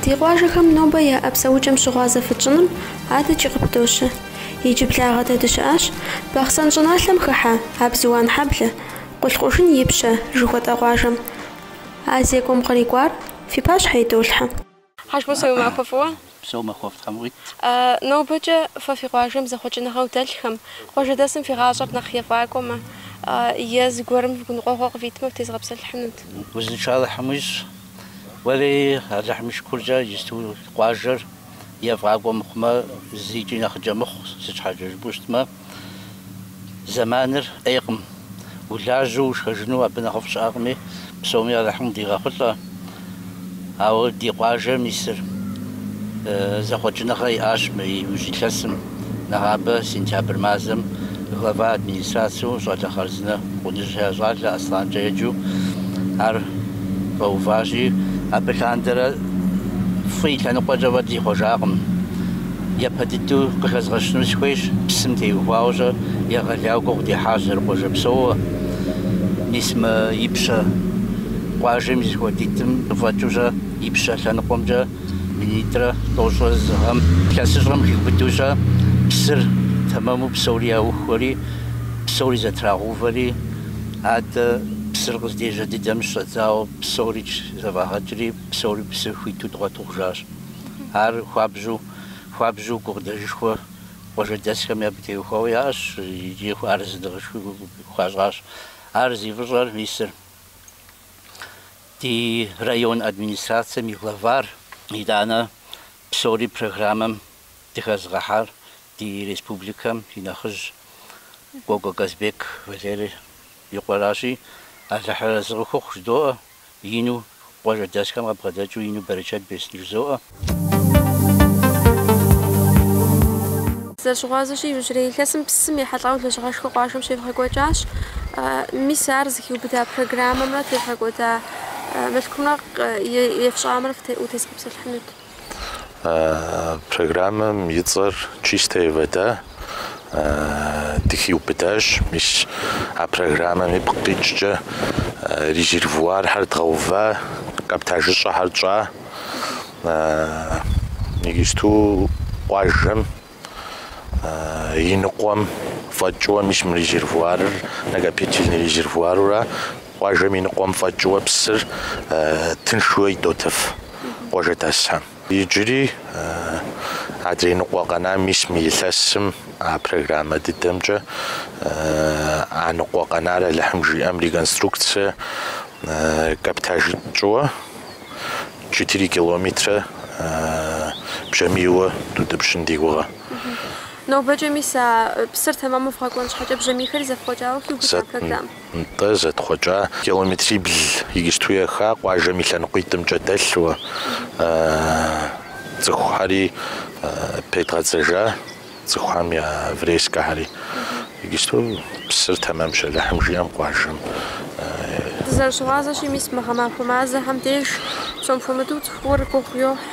Ди къуажэхэм нобэ яӏэ псэукӏэм щыгъуазэ фытщӏыным адэкӏи къыпдощэ. Иджыблагъэ дэ дыщыӏащ Бахъсэн щӏыналъэм хыхьэ Абзыуан-Хьэблэ, Къулъкъужын Ипщэ жыхуэтӏэ къуажэм. А зекӏуэм кърикӏуар фи пащхьэ идолъхьэ. Хьэжмусэ, уи махуэ фӏыуэ. Упсэу, махуэфӏ Тхьэм къуит. Нобэкӏэ фэ фи къуажэм зэхъуэкӏыныгъэу дэлъхэм, къуажэдэсым фи гъащӏэр нэхъ ефӏакӏуэмэ, е зыгуэрым гуныкъуэгъуэ къывитмэ, фытезгъэпсэлъыхьынут. Узыншэ Алыхьым уищӏ. Уэри Алыхьым и шыкуркӏэ иджыпсту къуажэр. ефӏакӏуэ мыхъумэ, зыкӏи нэхъыкӏэ мыхъу, сыт щхьэкӏэ жыпӏэу щытмэ, зэманыр ӏейкъым, улажьэу ушхэжыну абы нэхъыфӏ щыӏэкъыми, псоми Алыхьым дигъэхъулӏэ. Ауэ ди къуажэм мисыр зэхъуэкӏыныгъэ иӏащ мы иужь илъэсым. Нэгъабэ сентябрь мазэм глава администрацэу щӏалэ хъарзынэ Къуныжьхэ я щӏалэ Аслъанкӏэ еджэу ар къэуващи, абы лъандэрэ фӏы и лъэныкъуэкӏэ фӏэкӏ зихъуэжакъым. Япэ дыдэу къыхэзгъэщыну сыхуейщ, псым теухуауэ-щэ егъэлеяуэ гугъу дехьащ зэрыкъуажэ псоуэ. Мис мы ипщэ къуажэм и зэхуэдитӏым къыфӏэкӏыу-щэ ипщэ лъэныкъуэмкӏэ? Минитӏрэ тӏощӏрэ зы гъэм илъэсыщӏэм хиубыдэу-щэ псыр тэмэму псори яухуэри, псори зэтрагъэувэри, адэ псыр къыздежьэ дыдэм щӏэдзауэ псори зэфӏагъэкӏри, псори псы хуиту дгъуэту хъужащ. Ар хуабжьу, хуабжьу гукъыдэжышхуэ къуажэдэсхэм абы теухуауэ яӏэщ икӏи арэзыныгъэшхуи хуащӏащ. Ар зи фӏыщӏэр мисыр. Ди район администрацэм и главар, итӏанэ псори программэм дыхэзыгъэхьар ди республикэм и нэхъыжь Кӏуэкӏуэ Казбек Валерий и къуэращи, Алыхьыр арэзы къыхухъу жыдоӏэ, ину къуажэдэсхэм къэбгъэдэкӏыу ину берычэт бесын жызоӏэ. Зэрыщыгъуазэщи, иужьрей илъэсым псым ехьэлӏауэ лэжьыгъэшхуэ къуажэм щевгъэкӏуэкӏащ. Мис ар зыхиубыда программэмрэ тевгъэкӏуэда мылъкумрэ ефщӏамрэ утезгъэпсэлъыхьынут. Программэм и цӏэр Чистая вода дыхиубыдащ. Мис а программэм ипкъ къикӏкӏэ резервуархэр дгъэува, каптажыщӏэхэр тщӏа. Иджыпсту къуажэм и ныкъуэм фӏэкӏыуэ, мис мы резервуарыр накопительный резервуарыра, къуажэм и ныкъуэм фӏэкӏыуэ псыр тыншууэ идотыф къуажэдэсхэм. Иджыри адрей ныкъуэ къэнам мис мы илъэсым а программэ дыдэмкӏэ а ныкъуэ къэнар Алыхьым жиӏэм реконструкцие каптажи тщӏыуэ. четыре километрэ бжьамийуэ дутӏыпщын ди гугъэ. Нобэкӏэ мис а псыр тэмэму вгъэкӏуэн щхьэкӏэ бжьамийхэри зэфхъуэкӏауэ хиубыда а программэм? Нтӏэ, зэтхъуэкӏа. Километрибл иджысту еха къуажэм и лъэныкъуитӏымкӏэ дэлъуэ цӏыхухьэри педгъэдзэжа. Цӏыхухэм я врезкэхэри иджысту псыр тэмэмщ, Алыхьым жиӏэм къуажэм и. Дызэрыщыгъуазэщи, мис мы гъэмахуэ мазэхэм деж псом хуэмыдэу цӏыхур гугъу йохь.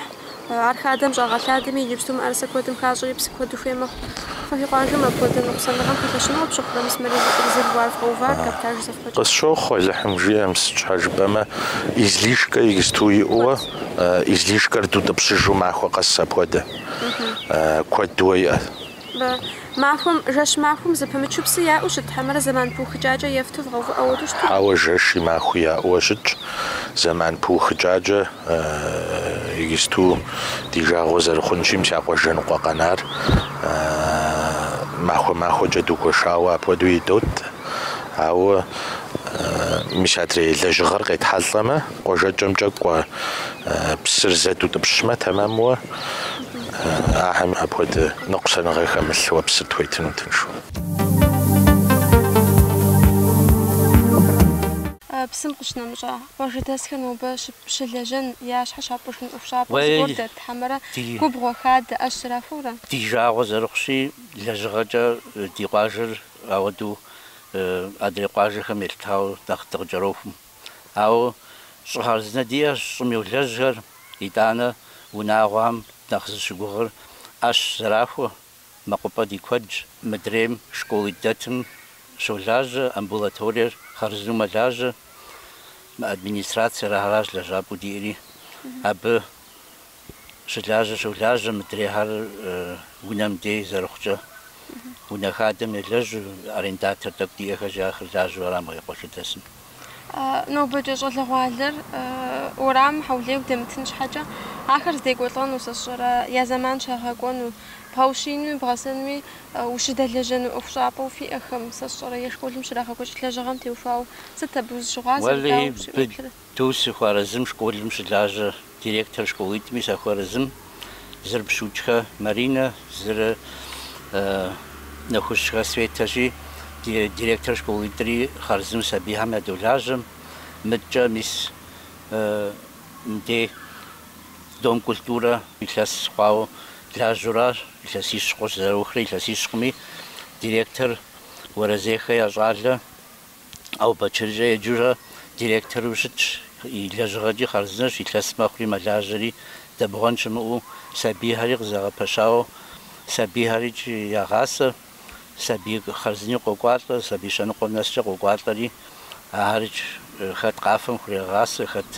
Ар хадэм щӏагъэлъадэми, иджыпсту мыӏэрысэ куэдым хащӏэри псы куэду хуей мэхъу. Фэ фи къуажэм апхуэдэ ныкъусаныгъэм пэлъэщынуэ пщыхъурэ, мис мы резервуар вгъэувар каптаж зэфхъуэкӏ. Къысщохъу Алыхьым жиӏэм, сыт щхьэ жыпӏэмэ, излишкэ иджысту иӏэуэ, излишкэр дутӏыпщыжу махуэ къэс апхуэдэ. куэдуэ иӏэ. Махуэм, жэщ махуэм зэпымычу псы яӏэу щыт хьэмэрэ зэман пыухыкӏакӏэ ефту вгъэувыӏэу ауэдэу щыту? Хьэуэ, жэщи махуи яӏэуэ щытщ. Зэман пыухыкӏакӏэ иджысту ди жагъуэ зэрыхъунщи, мис а къуажэ ныкъуэ къэнар махуэ-махуэкӏэ дгуэшауэ апхуэдэу идот. Ауэ мис адрей лэжьыгъэр къетхьэлӏэмэ, Къуажэкӏэмкӏэ кӏуэ псыр зэ дутӏыпщмэ, тэмэмуэ ахэм апхуэдэ ныкъусаныгъэ хэмылъуэ псыр тхуетыну тыншу. Псым къыщынэмыщӏа къуажэдэсхэр нобэ щылэжьэн я щхьэ щапӏыжын ӏуэхущӏапӏэ зыгуэр дэт хьэмэрэ губгъуэ, хадэ, ӏэщ зэрахуэу ара? Ди жагъуэ зэрыхъущи, лэжьыгъэкӏэ ди къуажэр ауэдэу адрей къуажэхэм елъытауэ нэхъ дыкъыкӏэрохум. Ауэ щӏы хъарзынэ диӏэщ щӏым йолэжьхэр, итӏанэ унагъуэхэм нэхъ зыщыгугъыр ӏэщ зэрахуэ, мэкъупӏэ ди куэдщ. Мыдрейм школитӏ дэтым щолажьэ, амбулаториер хъарзынэу мэлажьэ, мы администрациер ахэращ лэжьапӏэу диӏэри, абы щылажьэ щолажьэ мыдрейхэр унэм дей зэрыхъукӏэ. Унэ хадэм елэжьу, арендатор тӏэкӏу диӏэхэщи ахэр лажьэу арам къекъуэлъыдэсым. Нобэкӏэ щӏалэгъуалэр уэрамым хьэулейуэ дэмытын щхьэкӏэ, ахэр здекӏуэлӏэну сэ сщӏэрэ, я зэман щагъэкӏуэну, бгъэущиинуи бгъэсэнуи ущыдэлэжьэну ӏуэхущӏапӏэу фиӏэхэм, сэ сщӏэрэ, е школым щрагъэкӏуэкӏ лэжьыгъэм теухуауэ сыт абы узыщыгъуазэр, дауэ уеплърэ? Ту сыхуэарэзым школым щылажьэ директор школитӏми сахуэарэзым зыр Пщыукӏхэ Маринэ, зыр Нэхущхэ Светэщи, директор школитӏри хъарзынэу сабийхэм ядолажьэм. Мыдкӏэ мис мыдей Дом культурэ илъэс хъуауэ лажьэу аращ, илъэсищ хъуащ зэраухрэ, илъэсищкъыми, директор Уэрэзейхэ я щӏалэ. Ӏэубэчыркӏэ еджэурэ директору щытщ, и лэжьыгъэкӏи хъарзынэщ, илъэс мэхъури мэлажьэри, дэбгъуэн щымыӏэу сабийхэри къызэгъэпэщауэ, сабийхэрикӏи ягъасэ, сабий хъарзыни къокӏуалӏэ, сабий щэныкъуэм нэскӏэ къокӏуалӏэри, ахэрикӏ хэт къафэм хурегъасэ, хэт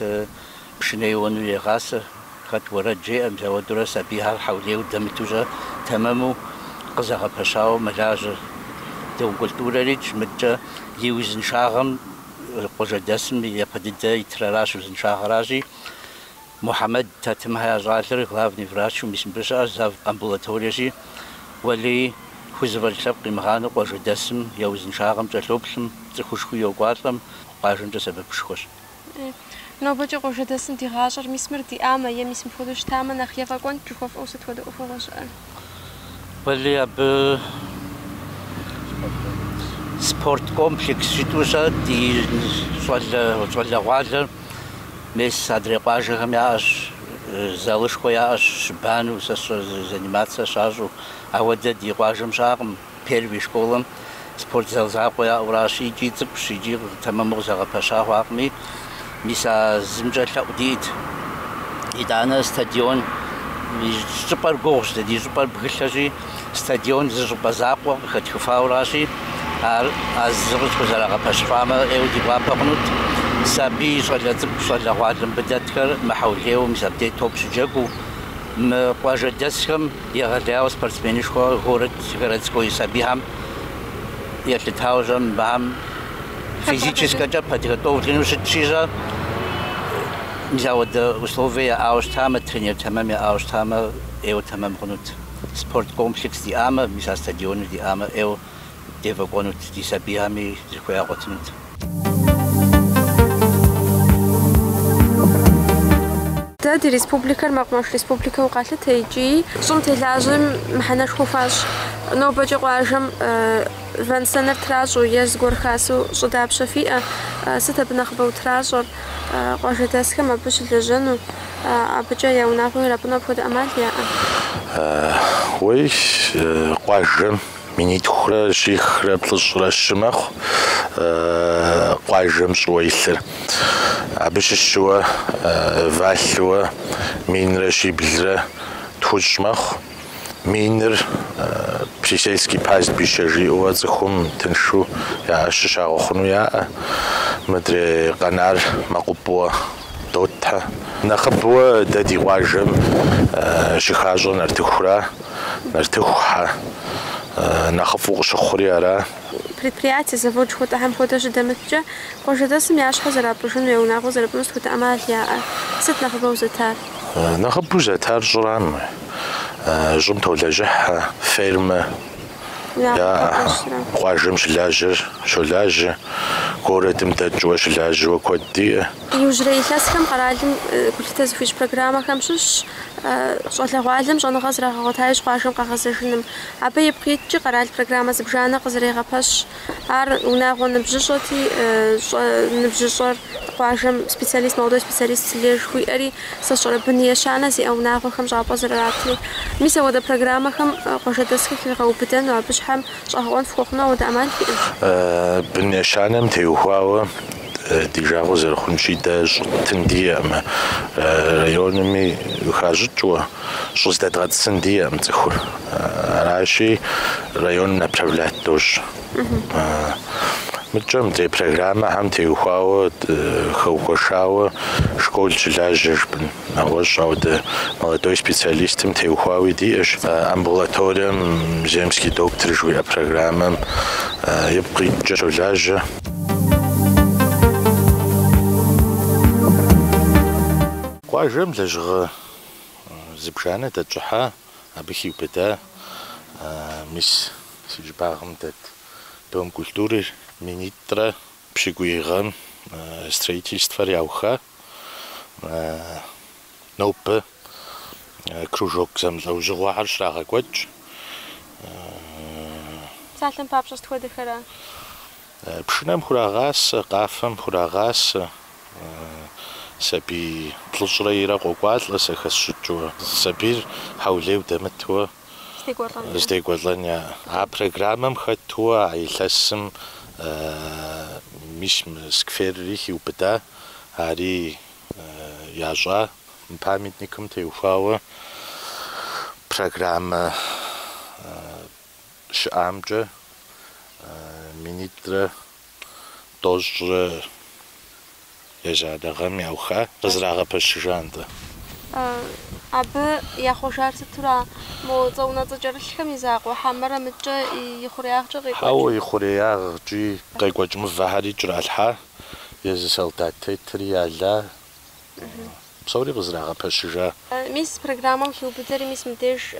Пшынэ еуэну егъасэ, хэт уэрэд жеӏэ, мис ауэдэурэ сабийхэр хьэулейуэ дэмыту щэ тэмэму къызэгъэпэщауэ мэлажьэ. Дом культурэрикӏ. Мыдкӏэ и узыншагъэм къуажэдэсым япэ дыдэ итыр аращ, узыншагъэращи, Мухьэмэд Тэтымхэ я щӏалэр, главный врачу мис мыбы щыӏэщ, зав. амбулаториещи, уэлей хузэфӏэкӏ лъэпкъ къимыгъанэу къуажэдэсым я узыншагъэм кӏэлъоплъым, цӏыхушхуи йокӏуалӏэм, къуажэмкӏэ сэбэпышхуэщ. Нобэкӏэ къуажэдэсым ди гъащӏэр, мис мыр диӏамэ, е мис мыпхуэдэу щытамэ, нэхъ ефӏэкӏуэнт, жыхуэфӏэу сыт хуэдэ ӏуэхугъуэ щыӏэ? Уэлей абы спорт комплекс жытӏэу щэ ди щӏалэ, щӏалэгъуалэр мес адрей къуажэхэм яӏэщ, залышхуэ яӏэщ, щыбанэу, сэ заниматься щащӏу, ауэдэ ди къуажэм щыӏэкъым. Первый школэм спортзал закъуэ яӏэу аращ, икӏи цӏыкӏущ, икӏи тэмэму къызэгъэпэща хъуакъыми. Мис а зымкӏэ лъэӏу диӏэт. Итӏанэ стадион и щӏыпӏэр гугъущ, дэ ди щӏыпӏэр бгылъэщи, стадион зы щӏыпӏэ закъуэ къыхэтхыфауэ аращи, ар а зыр къытхузэрагъэпэщыфамэ, ӏейуэ ди гуапэ хъунут. Сабий, щӏалэ цӏыкӏу, щӏалэгъуалэ мыбы дэтхэр мыхьэулейуэ мис абдей топ щыджэгуу мы къуажэдэсхэм, Егъэлеяуэ спортсменышхуэ город, городской сабийхэм елъытауэ щэ мыбыхэм физическэкӏэ подготовлену щытщи щэ мис ауэдэ условие яӏауэ щытамэ, тренер тэмэм яӏауэ щытамэ ӏейуэ тэмэм хъунут. Спорт комплекс диӏамэ, мис а стадионыр диӏамэ ӏейуэ дефӏэкӏуэнут, ди сабийхэми зыхуей ягъуэтынут. Дэ ди республикэр мэкъумэш республикэу къалъытэ икӏи щӏым телажьэм мыхьэнэшхуэ хуащӏ. Нобэкӏэ къуажэм вэн-сэныр тращӏэу е зыгуэр хасэу щӏы дапщэ фиӏэ? Сыт абы нэхъыбэу тращӏэр? Къуажэдэсхэм абы щылэжьэну, абыкӏэ я унагъуэ ирапӏыну апхуэдэ ӏэмал яӏэ? Уей, къуажэм Минитхурэ щихрэ плӏыщӏрэ щы мэхъу къуажэм щӏыуэ илъыр. Абы щыщыуэ валъэуэ минрэ щиблрэ тхущӏ мэхъу. Миныр присельский пастбище жиӏэуэ цӏыхум тыншу я ӏэщ щагъэхъуну яӏэ. Мыдрей къэнар мэкъупӏуэ дотхэ. Нэхъыбэуэ дэ ди къуажэм щыхащӏэр нартыхура. Нартыху хьэ нэхъыфӏу къыщыхъури ара? Предприятие, завод жыхуэтӏэхэм хуэдэ щыдэмыткӏэ, къуажэдэсым я щхьэ зэрапӏыжыну е унагъуэ зэрыпӏыну сыт хуэдэ ӏэмал яӏэр? Сыт нэхъыбэу зэтар? Нэхъыбэу зэтар щӏырам, щӏым толэжьыхьэ, фермэ яӏэ. Къуажэм щылажьэр щолажьэ, гуэрэдым дэкӏыуэ щылажьэуэ куэд диӏэ. Иужьрей илъэсхэм къэралым гулъытэ зыхуищӏ программэхэм щыщщ щӏалэгъуалэм щӏэныгъэ зрагъэгъуэта иужь къуажэм къагъэзэжыным. Абы ипкъ иткӏи, къэрал программэ зыбжанэ къызэрегъэпэщ. Ар унагъуэ ныбжьыщӏэти, щӏэ ныбжьыщӏэр къуажэм специалист, молодой специалист жыхуиӏэри, сэ сщӏэрэ бын ещанэ зиӏэ унагъуэхэм щӏапӏэ зэрыратри. Мис апхуэдэ программэхэм къуажэдэсхэр хигъэубыдэну абы щхьэм щӏэгъэкъуэн фыхуэхъуну ауэдэ ӏэмал фиӏэ? Бын ещанэм теухуауэ. Ди жагъуэ зэрыхъунщи, дэ щӏы ттын диӏэкъым. Районми хащӏыкӏыу щӏы здэдгъэтӏысын диӏэкъым цӏыхур. Аращи, районым направлять дощӏ. Мыкӏэ мыдрей программэхэм теухуауэ, хэухуэшауэ школ щылажьэ жыпӏэн, нэгъуэщӏ ауэдэ молодой специалистым теухуауи диӏэщ. Амбулаторием Земский доктор жыхуиӏэ программэм ипкъ иткӏэ щолажьэ. Къуажэм лэжьыгъэ зыбжанэ дэтщӏыхьа, абы хиубыда мис си щӏыбагъым дэт Дом культуры минитӏрэ пщыкӏуий гъэм строительствэр яуха. нобэ кружок зэмылӏэужьыгъуэхэр щрагъэкӏуэкӏ. Псалъэм папщӏэ сыт хуэдэхэра? Пшынэм хурагъасэ, къафэм хурагъасэ, сабий плӏыщӏрэ ирэ къокӏуалӏэ сэ хэсщӏыкӏыуэ. Сабийр хьэулейу дэмытуэ здекӏуэлӏэн яӏэ. А программэм хэтууэ а илъэсым мис мы скверри хиубыда, ари ящӏа мы памятникым теухуауэ программэ щыӏамкӏэ минитӏрэ тӏощӏрэ ещанэ гъэм яуха, къызэрагъэпэщыжа нтӏэ. Абы яхъуэжар сытура? Мо цӏэ унэцӏэ кӏэрылъхэм и закъуэ хьэмэрэ мыдэкӏэ и хъуреягъкӏэ къекӏуэкӏ? Хьэуэ, и хъуреягъкӏи къекӏуэкӏ мывэхэри кӏэралъхьа. езы солдат тетри яла, псори къызэрагъэпэщыжа. Мис программэм хиубыдэри, мис мыбдеж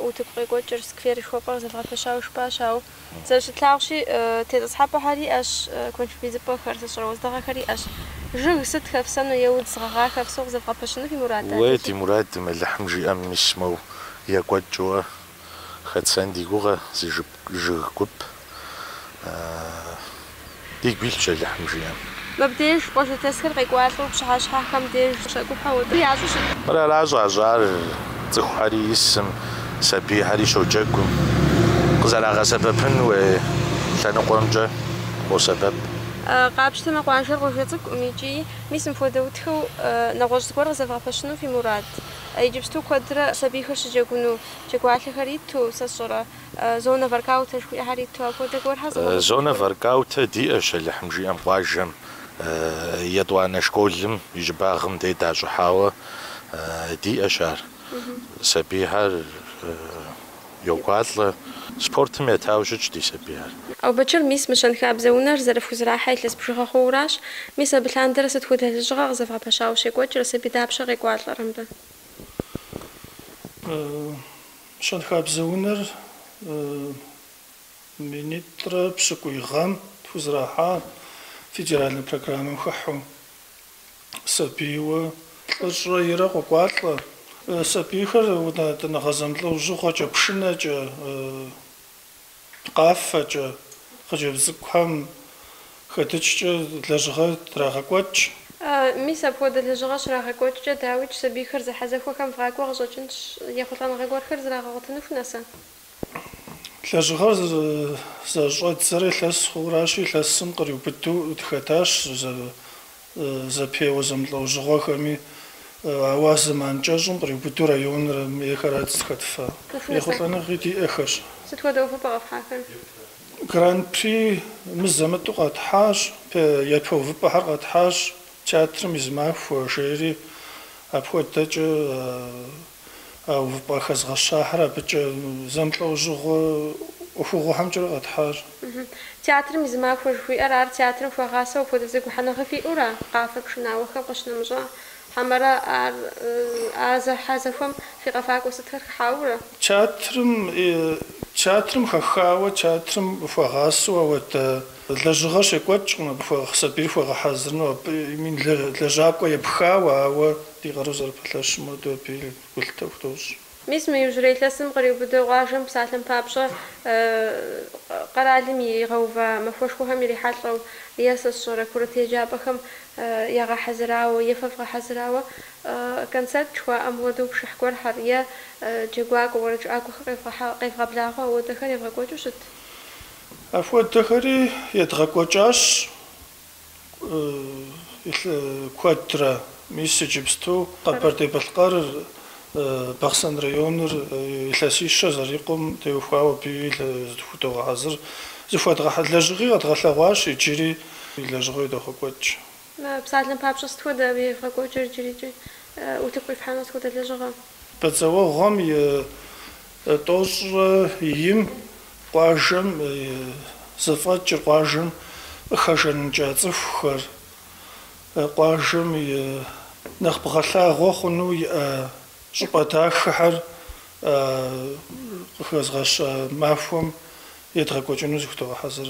утыку къекӏуэкӏыр скверышхуэпӏэ къызэвгъэпэщауэ жыпӏащ. Ауэ зэрыщытлъагъущи, тетӏысхьэпӏэхэр иӏэщ, куэншыб идзыпӏэхэр, сэ сщӏэрэ уэздыгъэхэр иӏэщ. Жыг сыт хэфсэну е удз гъэгъа хэфсэу къызэвгъэпэщыну фи мурад? Уэ ди мурадым Алыхьым жиӏэм мис моу екӏуэкӏыуэ. хэтсэн ди гугъэ зы жып жыг гуп, дигу илъщ Алыхьым жиӏэм. Мыбдеж къуажэдэсхэр къекӏуалӏэу пщыхьэщхьэхэм деж щӏэкӏухьэу отӏ ящӏу щыт? Мыр ара щӏащӏар, цӏыхухьэри исым, сабийхьэри щоджэгум, къызэрагъэсэбэпын хуей лъэныкъуэмкӏэ къосэбэп. Къапщтэмэ къуажэр къуажэ цӏыкӏукъым икӏи мис мыпхуэдэу дахэу нэгъуэщӏ зыгуэр къызэвгъэпэщыну фи мурад. Иджыпсту куэдрэ сабийхэр щыджэгуну джэгуалъэхэр иту, сэ сщӏэрэ, зонэ воркаутэ жыхуиӏэхэр иту апхуэдэ гуэрхэр зыгуэр? Зонэ воркаутэ диӏэщ Алыхьым жиӏэм къуажэм, етӏуанэ школым и щӏыбагъым дей дащӏыхьауэ диӏэщ ар. Сабийхэр. Йокӏуалӏэ, спортым етауэ щытщ ди сабийхэр. Ӏэубэчыр, мис, мы щэнхабзэ унэр зэрыфхузэрахьэ илъэс бжыгъэ хъууращ. Мис абы лъандэрэ сыт хуэдэ лэжьыгъэ къызэвгъэпэщауэ щекӏуэкӏрэ, сабий дапщэ къекӏуалӏэрэ мыбы? Щэнхабзэ унэр минитӏрэ пщыкӏуий гъэм тхузэрахьа федеральнэ программэм хыхьу. сабийуэ плӏыщӏрэ ирэ къокӏуалӏэ. Сабийхэр унэтӏыныгъэ зэмылӏэужьыгъуэкӏэ, пшынэкӏэ, къафэкӏэ, хъыджэбз цӏыкӏухэм хэдыкӏкӏэ лэжьыгъэ драгъэкӏуэкӏ. Мис, апхуэдэ лэжьыгъэ щрагъэкӏуэкӏкӏэ, дауикӏ, сабийхэр зэхьэзэхуэхэм вгъакӏуэ къыщӏэкӏынщ, ехъулӏэныгъэ гуэрхэр зрагъэгъуэтыну хунэсэ? Лэжьыгъэр зэрыщӏэддзэрэ илъэс хъууращи, илъэсым къриубыдэу дыхэтащ зэпеуэ зэмылӏэужьыгъуэхэми, ауэ а зэман кӏэщӏым къриубыдэу районым ейхэрат дызыхэтфа, ехъулӏэныгъи диӏэхэщ. Сыт хуэдэ увыпӏэ къэфхьахэр? Гран-при мызэ-мытӏу къэтхьащ, япэ увыпӏэхэр къэтхьащ, театрым и зы махуэ, жери апхуэдэкӏэ. а увыпӏэ хэзгъэщахэр абыкӏэ зэмылӏэужьыгъуэ ӏуэхугъуэхэмкӏэрэ къэтхьащ. Театрым и зы махуэ жыхуиӏэр ар театрым хуагъасэу апхуэдэ зэгухьэныгъэ фиӏэура, къафэ пшынауэхэм къыщынэмыщӏа? Хьэмэрэ ар а зэхьэзэхуэм фи къэфакӏуэ сытхэр хыхьауэурэ? Театрым театрым хэхауэ, театрым хуагъасэу ауэдэ лэжьыгъэ щекӏуэкӏкъым, абы хуэгъ сабийр хуэгъэхьэзырыну, абы и лэжьакӏуэ епхауэ, ауэ. Ди къару зэрыпэлъэщым хуэдэу абы гулъытэ худощӏ. Мис мы иужьрей илъэсым къриубыдэу къуажэм псалъэм папщӏэ къэралым игъэува махуэшхуэхэм ирихьэлӏэу е сэ сщӏэрэ курыт еджапӏэхэм ягъэхьэзырауэ е фэ фгъэхьэзырауэ концерт жыхуаӏэм хуэдэу пшыхь гуэрхьэр е джэгуакӏуэ, уэрэджыӏакӏуэхэр къевгъэблагъэу ауэдэхэр евгъэкӏуэкӏыу щыт. Апхуэдэхэри едгъэкӏуэкӏащ куэдрэ. Мис иджыпсту Къэбэрдей-Балъкъэрыр, Бахъсэн районыр илъэсищэ зэрикъум теухуауэ абы зыхудогъэхьэзыр зыхуэдгъэхьэ лэжьыгъи къэдгъэлъэгъуащ, иджыри лэжьыгъэу идогъэкӏуэкӏ. Псалъэм папщӏэ, сыт хуэдэ абы евгъэкӏуэкӏыр иджырикӏи? Утыку къифхьэну сыт хуэдэ лэжьыгъэ? Бэдзэуэгъуэм и. Тӏощӏрэ им къуажэм зэфӏэкӏыр къуажэм къыхэжаныкӏа цӏыхухэр, къуажэм и нэхъ бгъэлъагъуэ хъуну иӏэ щӏыпӏэ дахэхэр къыхэзгъэщ махуэм едгъэкӏуэкӏыну зыхудогъэхьэзыр.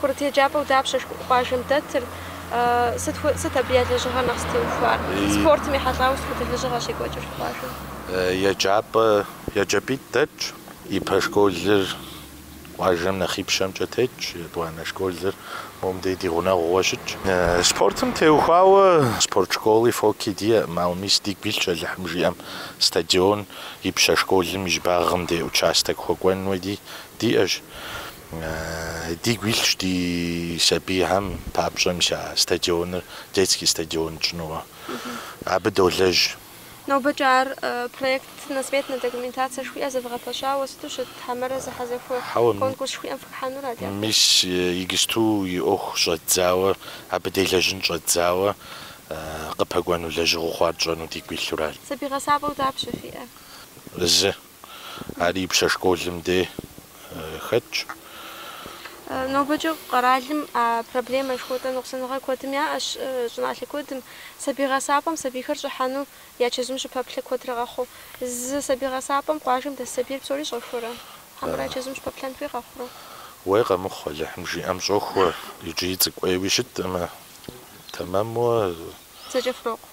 Курыт еджапӏэу дапщэ къуажэм дэтыр? Сыт абы я лэжьыгъэр нэхъ зытеухуар? Спортым ехьэлӏауэ сыт хуэдэ лэжьыгъэ щекӏуэкӏыр къуажэм? Еджапӏэ еджапӏитӏ дэтщ. Ипэ школыр Къуажэм нэхъипщэмкӏэ тетщ етӏуанэ школыр, мобдей ди гъунэгъууэ щытщ. Спортым теухуауэ спорт школи фоки диӏэкъым, ауэ мис дигу илъщ Алыхьым жиӏэм стадион ипщэ школым и щӏыбагъым дей участок хуэкӏуэн уэди диӏэщ. Дигу илъщ ди сабийхэм папщӏэ мис а стадионыр детский стадион тщӏынууэ. Абы долэжь. Нобэкӏэ ар проектно-сметнэ документацэ жыхуиӏэр зэвгъэпэщауэ сыту щыт хьэмэрэ зэхьэзэхуэ конкурс жыхуиӏэм фыхыхьэнура, дяпэ? Мис, игысту и ӏуэху щӏэддзауэ, абы делэжьын щӏэддзауэ къыпэкӏуэну лэжьыгъэу хъуар тщӏэну дигу илъуращ. Сабий гъэсапӏэу дапщэ фиӏэр? Зы. Ар Ипщэ школым дей хэтщ. Нобэкӏэ къэралым а проблемэр жыхуэтӏэ ныкъусаныгъэ куэдым яӏэщ, щӏыналъэ куэдым. Сабий гъэсапӏэм сабийхэр щӏыхьэну я чэзум щыпэплъэ куэдрэ къэхъу. Зы сабий гъэсапӏэм къуажэм дэс сабийр псори щӏэхуэрэ? Хьэмэрэ я чэзум щыпэплъэн хуей къэхъурэ? Уей къэмыхъу, Алыхьым жиӏэм щӏохуэ, иджыри цӏыкӏу ӏейуи щытмэ, тэмэму. Зэкӏэ хурокъу.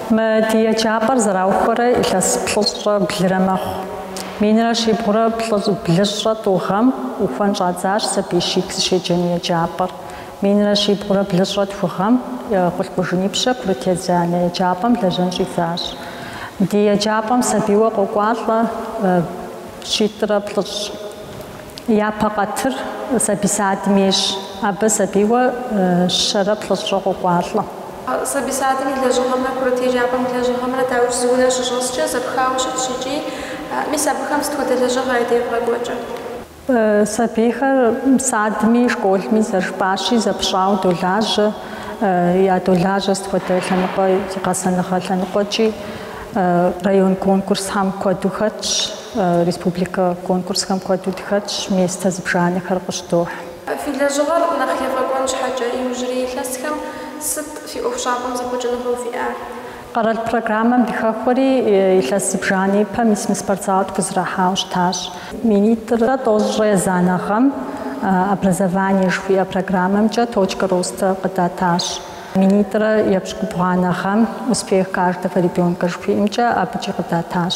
Мы ди еджапӏэр зэраухуэрэ илъэс плӏыщӏэ блырэ мэхъу. Минрэ щибгъурэ блыщӏэ тӏу гъэм ухуэн щӏадзащ сабий щитӏ зыщеджэну еджапӏэр. Минрэ щибгъурэ блыщӏэ тху гъэм Къулъкъужынипщэ курыт езанэ еджапӏэм лэжьэн щӏидзащ. Ди еджапӏэм сабийуэ къокӏуалӏэ щитӏрэ плӏыщӏ. Япэ къатыр сабий садым ейщ, абы сабийуэ щэрэ плӏыщӏрэ къокӏуалӏэ. Сабий садым и лэжьыгъэмрэ курыт еджапӏэм и лэжьыгъэмрэ дауикӏ зы унэ щыщӏэскӏэ зэпхауэ щытщ икӏи мис абыхэм сыт хуэдэ лэжьыгъэ ядевгъэкӏуэкӏыр? Сабийхэр садми школми зэрыжыпӏащи зэпщӏауэ долажьэ, ядолажьэ сыт хуэдэ лъэныкъуэ, гъэсэныгъэ лъэныкъуэкӏи. Район конкурсхэм куэду хэтщ. Республикэ конкурсхэм куэду дыхэтщ, место зыбжанэхэр къыщыдохь. Фи лэжьыгъэр нэхъ ефӏэкӏуэн щхьэкӏэ, иужьрей илъэсхэм сыт фи ӏуэхущӏапӏэм зэхъуэкӏыныгъэу фиӏэр? Къэрал программэм дыхэхуэри илъэс зыбжанэ ипэ мис мы спортзалыр тхузэрахьауэ щытащ. Минитӏрэ тӏощӏрэ езанэ гъэм Образование жыхуиӏэ программэмкӏэ Точка роста къыдатащ. Минитӏрэ епщыкӏубгъуанэ гъэм Успех каждого ребенка жыхуиӏэмкӏэ абыкӏи къыдатащ.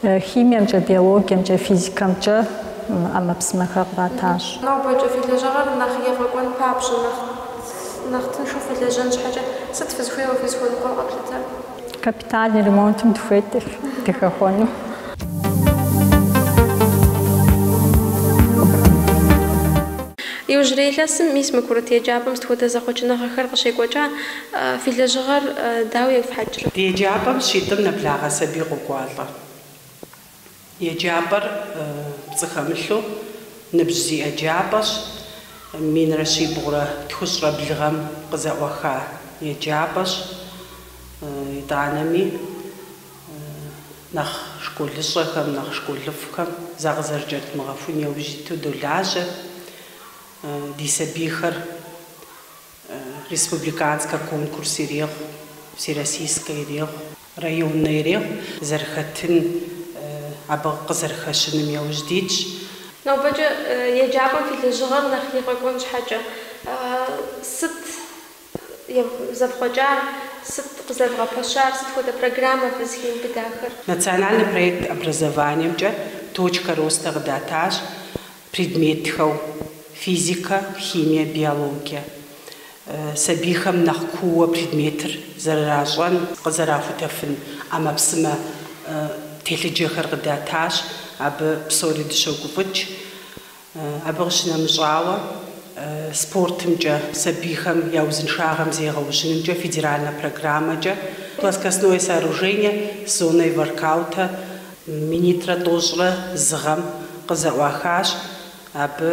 Химиемкӏэ, биологиемкӏэ, физикэмкӏэ ӏэмэпсымэхэр къратащ. Нобэкӏэ фи лэжьыгъэр нэхъ ефӏэкӏуэн папщӏэ, нэхъ нэхъ тыншу фылэжьэн щхьэкӏэ сыт фызыхуейуэ фызыхуэныкъуэр къэплъытэр? Капитальный ремонтым дыхуейт дыхэхуэну. Иужьрей илъэсым мис мы курыт еджапӏэм сыт хуэдэ зэхъуэкӏыныгъэхэр къыщекӏуэкӏа? Фи лэжьыгъэр дауэ ефхьэкӏрэ? Ди еджапӏэм щитӏым нэблагъэ сабий къокӏуалӏэ. Еджапӏэр пцӏы хэмылъу ныбжь зиӏэ еджапӏэщ. Минрэ щибгъурэ тхущӏрэ блы гъэм къызэӏуаха еджапӏэщ. Итӏанэми нэхъ школыщӏэхэм, нэхъ школыфӏхэм закъызэрыкӏэрыдмыгъэхун яужь иту долажьэ ди сабийхэр. Республиканскэ конкурс ирехъу, всероссийскэ ирехъу, районнэ ирехъу, зэрыхэтын, абы къызэрыхэщыным яужь дитщ. Нобэкӏэ еджапӏэм фи лэжьыгъэр нэхъ егъэфӏэкӏуэн щхьэкӏэ, сыт зэфхъуэкӏар, сыт къызэрывгъэпэщар, сыт хуэдэ программэ фызыхиубыдахэр? Национальный проект образованиемкӏэ Точка роста къыдатащ, Предметхэу, физикэ, химие, биологие. Сабийхэм нэхъ кууэ предметыр зэрыращӏэн, къызэрахутэфын ӏэмэпсымэ телъыджэхэр къыдатащ, абы псори дыщогуфӏыкӏ. Абы къыщынэмыщӏауэ, спортымкӏэ, сабийхэм я узыншагъэм зегъэужьынымкӏэ федеральнэ программэкӏэ Плоскостное сооружение с зоной воркаута Минитӏрэ тӏощӏрэ зы гъэм къызэӏуахащ. Абы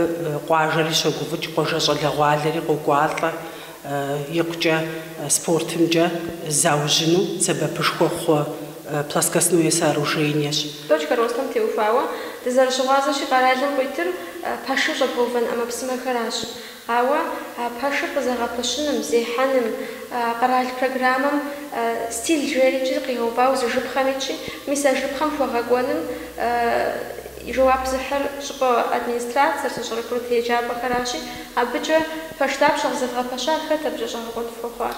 къуажэри щогуфӏыкӏ, къуажэ щӏалэгъуалэри къокӏуалӏэ икъукӏэ спортымкӏэ заужьыну сэбэпышхуэ хъу плоскостное сооружениещ. Точка ростам теухуауэ дызэрыщыгъуазэщи, къэралым къуитыр пэшым щӏэбгъэувэн ӏэмэпсымэхэращ. Ауэ а пэшыр къызэгъэпэщыным, зехьэным, къэрал программэм стиль жери иджы къигъэувауэ зы жыпхъэм итщи, мис а жыпхъэм хуэгъэкӏуэным и жэуап зыхьыр щӏыпӏэ администрацэр, сащӏэрэ-курыт еджапӏэхэращи, абыкӏэ пэш дапщэ къызэвгъэпэщар, хэт абыкӏэ щӏэгъэкъуэн фхуэхъуар?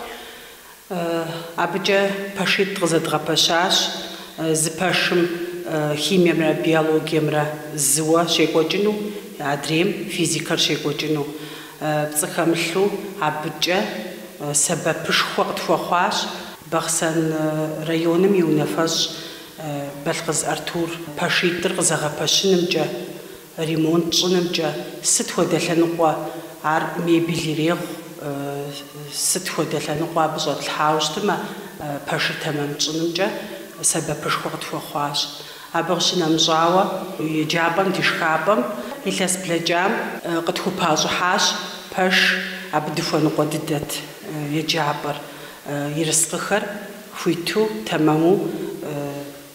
Абыкӏэ пэшитӏ къызэдгъэпэщащ зы пэшым химиемрэ биологиемрэ зыуэ щекӏуэкӏыну, адрейм физикэр щекӏуэкӏыну. Пцӏы хэмылъу абыкӏэ сэбэпышхуэ къытхуэхъуащ Бахъсэн районым и унафэщӏ Балъкъыз Артур пэшитӏыр къызэгъэпэщынымкӏэ. Ремонт щӏынымкӏэ сыт хуэдэ лъэныкъуэ ар мебель ирехъу, сыт хуэдэ лъэныкъуэ абы щӏэтлъхьауэ щытымэ, пэшыр тэмэм тщӏынымкӏэ сэбэпышхуэ къытхуэхъуащ. Абы къыщынэмыщӏауэ, еджапӏэм ди шхапӏэм илъэс блэкӏам къытхупащӏыхьащ пэш, абы дыхуэныкъуэ дыдэт еджапӏэр, ерыскъыхэр хуиту, тэмэму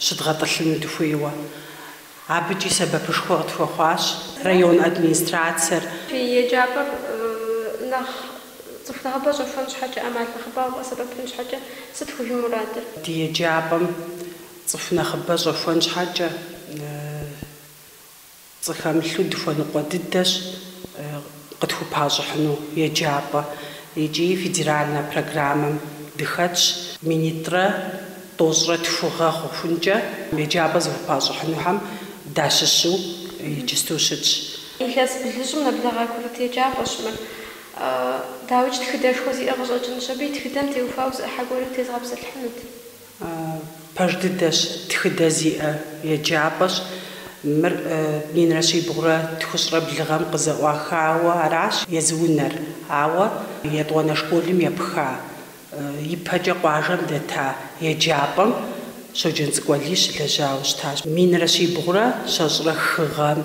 щыдгъэтӏылъыну дыхуейуэ. Абыкӏи сэбэпышхуэ къытхуэхъуащ район администрацэр. Фи еджапӏэр нэхъ цӏыху нэхъыбэ щӏэхуэн щхьэкӏэ, ӏэмал нэхъыбэ къэвгъэсэбэпын щхьэкӏэ сыт фи мурадыр? Ди еджапӏэм цӏыху нэхъыбэ щӏэхуэн щхьэкӏэ пцӏы хэмылъу дыхуэныкъуэ дыдэщ. къытхупащӏыхьыну еджапӏэ икӏи федеральнэ программэм дыхэтщ. Минитӏрэ тӏощӏрэ тхугъэ хъухункӏэ еджапӏэ зыхупащӏыхьынухэм дащыщу иджысту щытщ. Илъэс блыщӏым нэблэгъа курыт еджапӏэщ мыр. Дауикӏ тхыдэшхуэ зиӏэ къыщӏэкӏынущ абы, и тхыдэм теухуауэ зы ӏыхьэ гуэрым тезгъэпсэлъыхьынут. Пэж дыдэщ, тхыдэ зиӏэ еджапӏэщ. Мыр минрэ щибгъурэ тхущӏрэ блыгъэм къызэӏуахауэ аращ езы унэр, ауэ етӏуанэ школым епха, ипэкӏэ къуажэм дэта еджапӏэм Щоджэнцӏыкӏу Алий щылэжьауэ щытащ. Минрэ щибгъурэ щэщӏрэ хы гъэм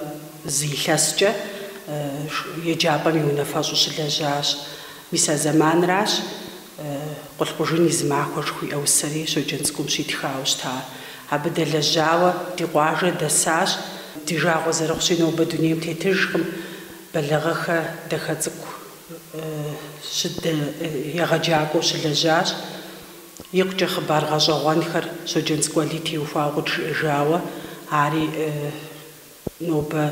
зы илъэскӏэ еджапӏэм и унафэщӏу щылэжьащ. Мис а зэманращ Къулъкъужын и зы махуэ жыхуиӏэ усэри Щоджэнцӏыкӏум щитхауэ щыта. Абы дэлэжьауэ ди къуажэ дэсащ. Ди жагъуэ зэрыхъущи, нобэ дунейм тетыжкъым. Бэлэгъэхэ Дахэцӏыкӏу егъэджакӏуэу щылэжьащ. Икъукӏэ хъыбар гъэщӏэгъуэнхэр Щоджэнцӏыкӏу Алий теухуауэ къыджиӏэжауэ, ари Нобэ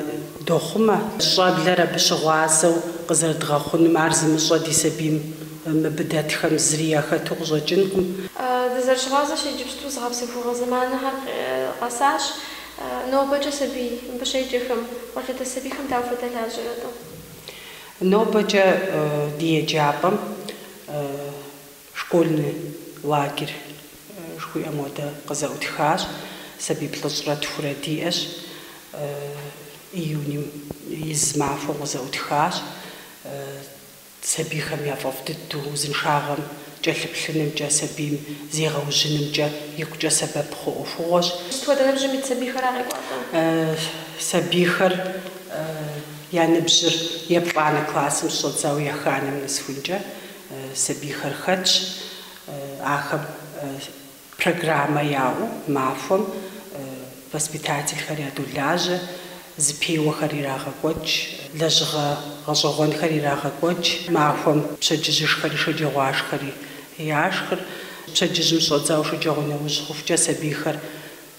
дохъумэ. Щӏэблэр абы щыгъуазэу къызэрыдгъэхъунум, ар зымыщӏэ ди сабийм мыбы дэтхэм зыри яхэту къыщӏэкӏынкъым. Дызэрыщыгъуазэщи, иджыпсту зыгъэпсэхугъуэ зэманхэр къэсащ. Нобэкӏэ сабий, мыбы щеджэхэм, къуажэдэс сабийхэм дауэ фадэлажьэрэ-тӏэ? Нобэкӏэ ди еджапӏэм Школьный лагерь жыхуиӏэм хуэдэ къызэӏутхащ. Сабий плӏыщӏрэ тхурэ диӏэщ. Июньым и зы махуэм къызэӏутхащ. Сабийхэм я фӏэфӏ дыдэу узыншагъэм кӏэлъыплъынымкӏэ, сабийм зегъэужьынымкӏэ икъукӏэ сэбэп хъу ӏуэхугъуэщ. Сыт хуэдэ ныбжьым ит сабийхэра къекӏуалӏэ? Сабийхэр я ныбжьыр еплӏанэ классым щыщӏэдзауэ еханэм нэсхункӏэ. сабийхэр хэтщ, ахэм программэ яӏэу махуэм воспитательхэр ядолажьэ, зыпеуэхэр ирагъэкӏуэкӏ, лэжьыгъэ гъэщӏэгъуэнхэр ирагъэкӏуэкӏ, махуэм пщэдджыжьышхэри шэджагъуашхэри яшхыр, пщэдджыжьым щӏэдзауэ шэджагъуэ нэужь хъухукӏэ сабийхэр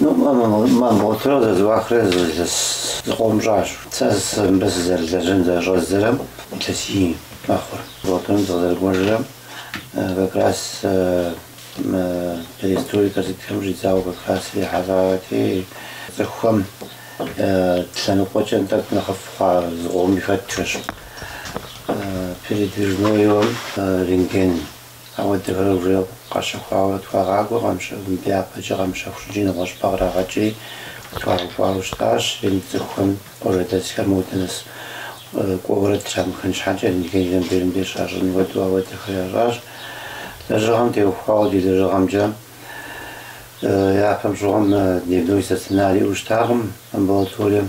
Мы амбулаторэр зэрызэӏуахрэ илъэс зыкъом щӏащ. Сэ мыбы сызэрылэжьэн зэрыщӏэздзэрэм илъэсий мэхъур. Амбулаторэм сыкъызэрыкӏуэжрэм как раз мы перестройкэ сытхэм щӏидзауэ как раз ирихьэлӏати, цӏыхухэм лъэныкъуэкӏэ тӏэкӏу нэхъыфӏ хъуа зыкъоми хэтхэщ. Передвижнойуэ мы рентген Ауэдэхэр уже къащэхуауэ тхуагъакӏуэ къамыщэхум япэкӏэ къамыщэху щӏыкӏи нэгъуэщӏыпӏэ кърагъэкӏри къытхуагъэкӏуауэ щытащ. И цӏыхухэм къуажэдэсхэр модэ нэс кӏуэурэ трамыхын щхьэкӏэ рентгеныр мыбдейрым деж щащӏын хуэдэу ауэдэхэр ящӏащ. Лэжьыгъэм теухуауэ ди лэжьыгъэмкӏэ япэм щыгъуэм дневной стационар иӏэу щытакъым амбулаторием.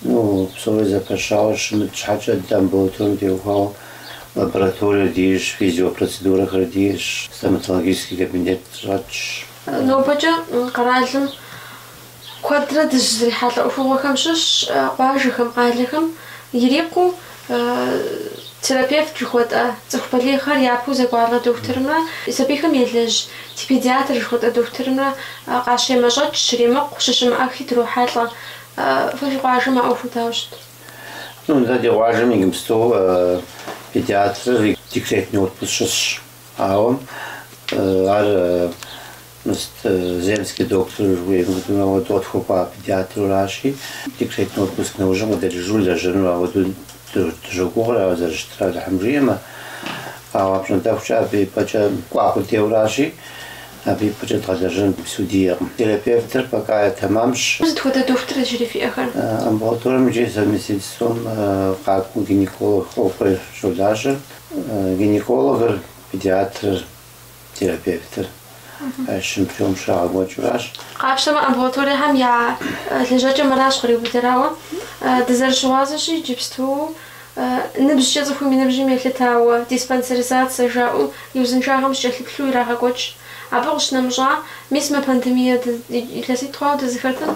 Псори зэпэщауэ щымыт щхьэкӏэ, дэ амбулаторэм теухуауэ лабораториер диӏэщ, физиопроцедурэхэр диӏэщ, стоматологический кабинет щӏэтщ. Нобэкӏэ къэралым куэдрэ дыщызрихьэлӏэ ӏуэхугъуэхэм щыщщ къуажэхэм, къалэхэм ирикъуу терапевт жыхуэтӏэ цӏыху балигъхэр япэу зэкӏуалӏэ дохутырымрэ сабийхэм елэжь педиатр жыхуэтӏэ дохутырымрэ къащемэщӏэкӏ, щримыкъу, щыщымыӏэхри дрохьэлӏэ. Фи къуажэм а ӏуэхур дауэ щыт? Ну да, ди къуажэм иджыпсту педиатрыр и декретный отпуск щысщ. Ауэ ар мис Земский доктор жыхуейм хуэдэу ауэду къытхуэкӏуа педиатруращи, декретный отпуск нэужьым къыдэкӏыжу лэжьэнур ауэду дыщогугъыр, ауэ зэрыщытыр Алыхьым жиӏэмэ. Ауэ апщӏондэхукӏэ абы и пӏэкӏэ кӏуа къудейуэращи, абы и пӏэкӏэ дгъэлэжьэн иджыпсту диӏэкъым. Терапевтыр пока тэмэмщ. Сыт хуэдэ дохутыр иджыри фиӏэхэр? Амбулаторэм икӏи совместительством къакӏуэу гинеколог ӏуэхур щолажьэ. Гинекологыр, педиатрыр, терапевтыр а щым приём щрагъэкӏуэкӏыуращ. Къапщтэмэ, амбулаториехэм я лэжьакӏэм аращ къриубыдэр. Ауэ дызэрыщыгъуазэщи, иджыпсту Ныбжькӏэ цӏыхум и ныбжьым елъытауэ диспансеризацэ жаӏэу и узыншагъэм щыкӏэлъыплъу ирагъэкӏуэкӏ. Абы къыщынэмыщӏа, мис мы пандемие илъэситӏ хъуауэ дызыхэтым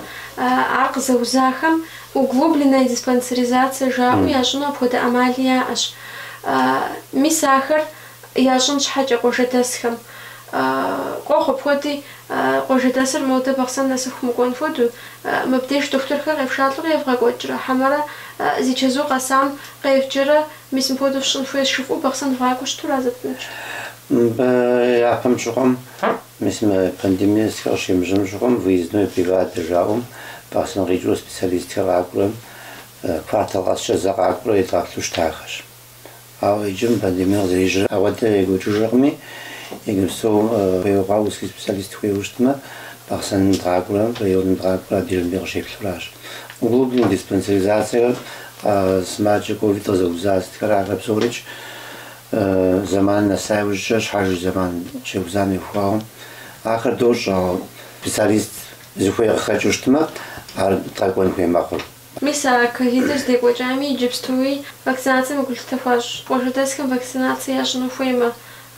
ар къызэузахэм углубленная диспансеризация жаӏэу ящӏыну апхуэдэ ӏэмали яӏэщ. Мис ахэр Ящӏын щхьэкӏэ къуажэдэсхэм. Къохъу апхуэди, къуажэдэсыр модэ Бахъсэн нэсыху мыкӏуэн хуэдэу. Мыбдеж дохутырхэр къефшалӏэурэ евгъэкӏуэкӏрэ, хьэмэрэ зи чэзу къэсам къевджэрэ, мис мыпхуэдэу фщӏын хуейщ, жыфӏэу Бахъсэн вгъакӏуэу щыту разэтынущ. Мыбы япэм щыгъуэм, мис мы пандемие сытхэр къыщемыжьэм щыгъуэм, выездной бригадэ жаӏэу, Бахъсэн къикӏыу специалистхэр къакӏурэм, квартал къэскӏэ зэ къакӏуэрэ едгъэплъу щытахэщ. Ауэ иджым пандемие къызэрежьэрэ ауэдэ екӏуэкӏыжыркъыми, иджыпсту хуей хъуауэ узкий специалист хуейуэ щытмэ, Бахъсэн дгъакӏуэрэ районым дгъакӏуэрэ абдейрым де къыщеплъуращ. Углубленный диспансеризацэхэр, сымаджэ ковид къызэуза сытхэр, ахэр псорикӏ зэманым нэса иужькӏэ щхьэж зэман щеузам ехуауэ. Ахэр дощӏ, ауэ специалист зыхуей къыхэкӏыу щытмэ, ар дгъэкӏуэн хуей мэхъур. Мис а ковидыр здекӏуэкӏами, иджыпстуи вакцинацэм и гулъытэ хуащӏ къуажэдэсхэм вакцинацэ ящӏыну хуеймэ,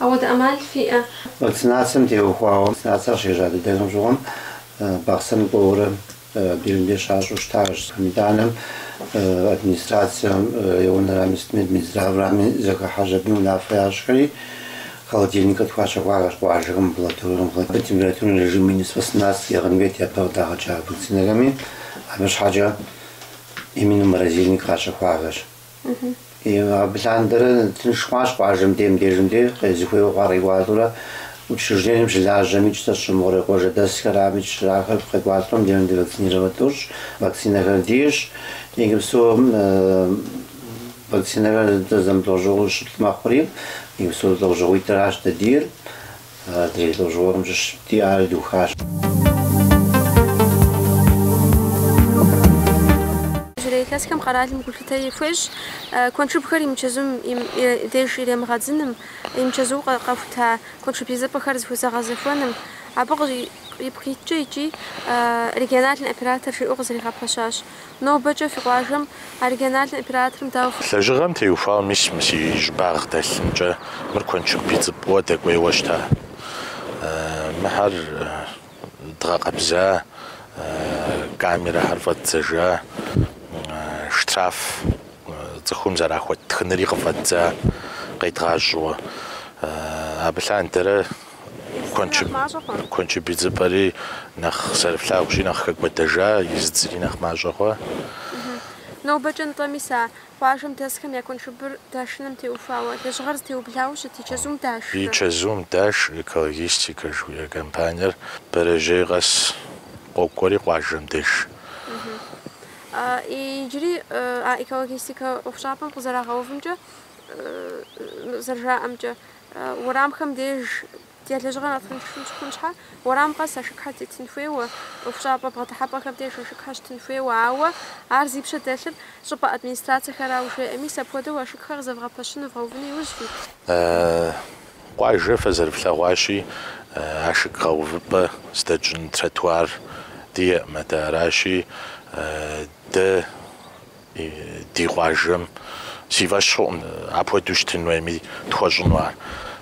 ауэдэ ӏэмал фиӏэ? Вакцинацэм теухуауэ вакцинацэр къыщежьа дыдэхэм щыгъуэм Бахъсэн кӏуэурэ абырым де щащӏу щытащ. Итӏанэ администрацэм, районрами, сытми, Минздрав-рами зэхыхьэж абы унафэ ящӏхэри. Холодильник къытхуащэхуахэщ къуажэхэм амбулаторэм абы температурный режим минус восемнадцать иӏыгъын хуейт япэ къыдагъэкӏа вакцинэхэми. Абы щхьэкӏэ именно морозильник къащэхуахэщ. И абы лъандэрэ тынш хъуащ къуажэм дей мыбдежым де зыхуейуэ хъуар къекӏуалӏэурэ учреждением щылажьэмикӏ зэщӏымыгъуурэ къуажэдэсхэрамикӏ щрахэр къекӏуалӏэурэ мыбдежым де вакцинировать дощӏ, вакцинэхэр диӏэщ, иджыпсту Вакцинэр езыр зэмылӏэужьыгъуэу щы мэхъури, мис а лӏэужьыгъуитӏыращ дэ диӏэр, адрей лӏэужьыгъуэхэм щыщ диӏар духащ. Иужьрей илъэсхэм къэралым гулъытэ хуещӏ куэншыбхэр имычэзум деж иремыгъэдзыным, имычэзуу къэхута куэншыб идзыпӏэхэр зыхузэгъэзэхуэным, абы ипкъ иткӏэ икӏи региональнэ оператор жиӏэу къызэригъэпэщащ. Нобэкӏэ фи къуажэм региональнэ операторым дауэ фыхуей? Лэжьыгъэм теухуауэ мис мы си щӏыбагъ дэлъымкӏэ мыр куэншыб идзыпӏэу дэкӏуейуэ щыта. Мыхэр дгъэкъэбза, камерэхэр фӏэддзэжа, штраф цӏыхум зэрахуэт тхыныри къыфӏэддза къедгъащӏэуэ. Абы лъандэрэ. Куэнчыб идзыпӏэри нэхъ зэрыфлъагъущи, нэхъ хэкӏуэдэжа, изыдзри нэхъ мащӏэ хъуа. Нобэкӏэ нтӏэ, мис а къуажэм дэсхэм я куэншыбыр дашыным теухуауэ, лэжьыгъэр зэтеублауэ щыт и чэзум даш? И чэзум даш Экологистика жыхуиӏэ компаниер бэрэжьей къэс къокӏуэри къуажэм деж. Иджыри а Экологистика ӏуэхущӏапӏэм къызэрагъэувымкӏэ зэрыжаӏэмкӏэ, Уэрамхэм деж я лэжьыгъэр нэхъ тынш щыхъун щхьэ, уэрам къэс ашыкхэр тетын хуейуэ, ӏуэхущӏапӏэ бгъэдыхьэпӏэхэм деж ашыкхэр щытын хуейуэ, ауэ ар зи пщэ дэлъыр щӏыпӏэ администрацэхэрауэ жеӏэ. Мис апхуэдэу ашыкхэр къызэвгъэпэщыну вгъэувыну иужь фит? Къуажэ фэ зэрыфлъэгъуащи, ашык гъэувыпӏэ здэтщӏын тротуар диӏэкъым, атӏэ аращи, дэ. Ди къуажэм си фӏэщ хъуӏым апхуэдэу щытын хуейми тхуэщӏыну ар.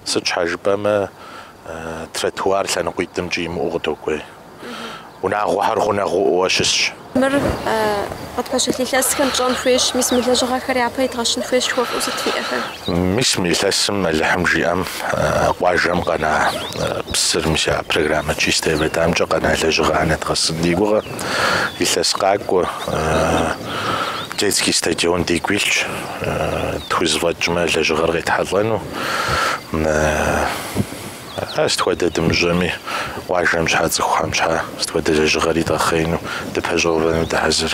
Сыт щхьэ жыпӏэмэ, тротуар лъэныкъуитӏымкӏи имыӏэу къыдокӏуей. Унагъуэхэр гъунэгъуӏуэу щысщ. Мыр къытпэщылъ илъэсхэм пщӏэн хуейщ, мис мы лэжьыгъэхэр япэ идгъэщын хуейщ жыхуэфӏэу сыт фиӏэхэр? Мис мы илъэсым Алыхьым жиӏэм къуажэм къэна псыр, мис а программэ Чистая вода-мкӏэ къэна лэжьыгъэр нэдгъэсын ди гугъэ. Илъэс къакӏуэ детский стадион дигу илъщ, тхузэфӏэкӏмэ лэжьыгъэр къетхьэлӏэну. Ар сыт хуэдэ дымыщӏэми, къуажэм щхьэ, цӏыхухэм щхьэ сыт хуэдэ лэжьыгъэри дгъэхъеину, дыпэщӏэувэну дыхьэзыр.